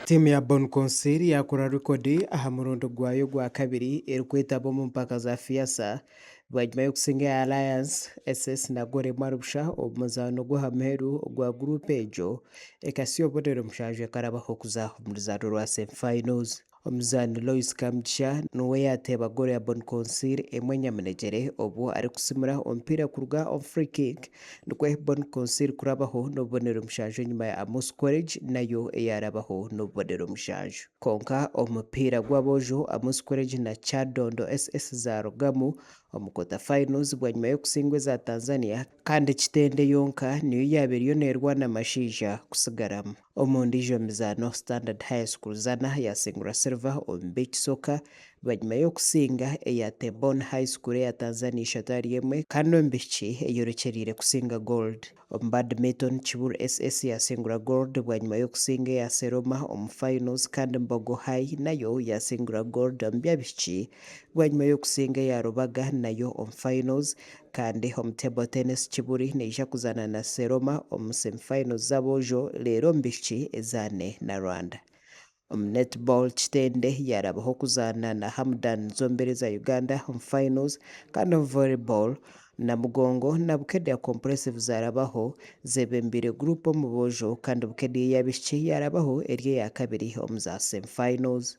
Tiimu ya Bon Conseil yaakora rekodi aha murundi gwayo ogwa kabiri erikwetaba omu mpaka za FIASA bwanyima y'okusinga eya Alliance SS na goolo emwe ahari busha omu muzaano gw'aha muheru ogwa guruupu egyo ekatsi y'obonero mushanju ekarabaho kuza omu ruzaano rwa semi-finals. Omuzaani Lois Kamugisha niwe yaateeba goolo ya Bon Consiir emwe enyamunegyere obwo arikusimura omupiira kuruga omu free kick nikwo Bon Consiir kurabaho n'obubonero mushanju enyima ya Amos Quaritch nayo eyaarabaho n'obubonero mushanju. Kwonka omupiira gw'aboojo Amos Quaritch na Kyadondo SS zaarugamu omu quarter finals bwanyima y'okutsindwa eza Tanzania kandi Kitende yonka niyo yaaba eriyo neerwana amasheija kutsigaramu. Omu ndiijo mizaano, Standard High School Zana yaasingura Silver omu b'ekisoka bwanyima y'okusinga eya Temboni High School eya Tanzania ishatu ahari emwe kandi omu b'eishiki eyorekyereire kusinga Gold. Omu Badminton, Kiburu SS yaasingura Gold bwanyima y'okusinga eya Seroma omu Finals kandi Mbogo High nayo yaasingura Gold omu by'abaishiki bwanyima y'okusinga eya Rubaga nayo omu Finals. Kandi omu table tennis Kibuli neija kuzaana na Seroma omu semi finals z'aboojo reero omu bishiki ezaane na Rwanda. Omu netball Kitende yaarabaho kuzaana na Hamudan zombiriri za Uganda omu finals kandi omu volleyball Namugongo na Bukedea Compressive zaarabaho zeebembeire group omu boojo kandi Bukedea ey'abaishiki yaarabaho eri eya kabiri omu za semi finals.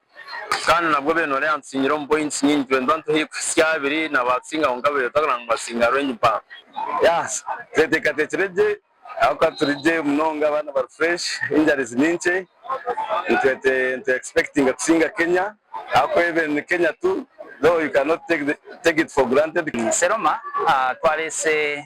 Kandi nabwo bene ori antsinyire omu points nyingi twendwa nituha erikuhitsya aha abiri na ba Tsinga kwonka bebe twagana ngu Batsinga range mpango. Yah tweteekateekire gye ahabw'okuba turi gye munonga abaana bari fresh injuries ni nkye nitwete nitu expectinga kusinga Kenya ahabw'okuba even ni Kenya tu though you cannot take the take it for granted. Seroma, Twareese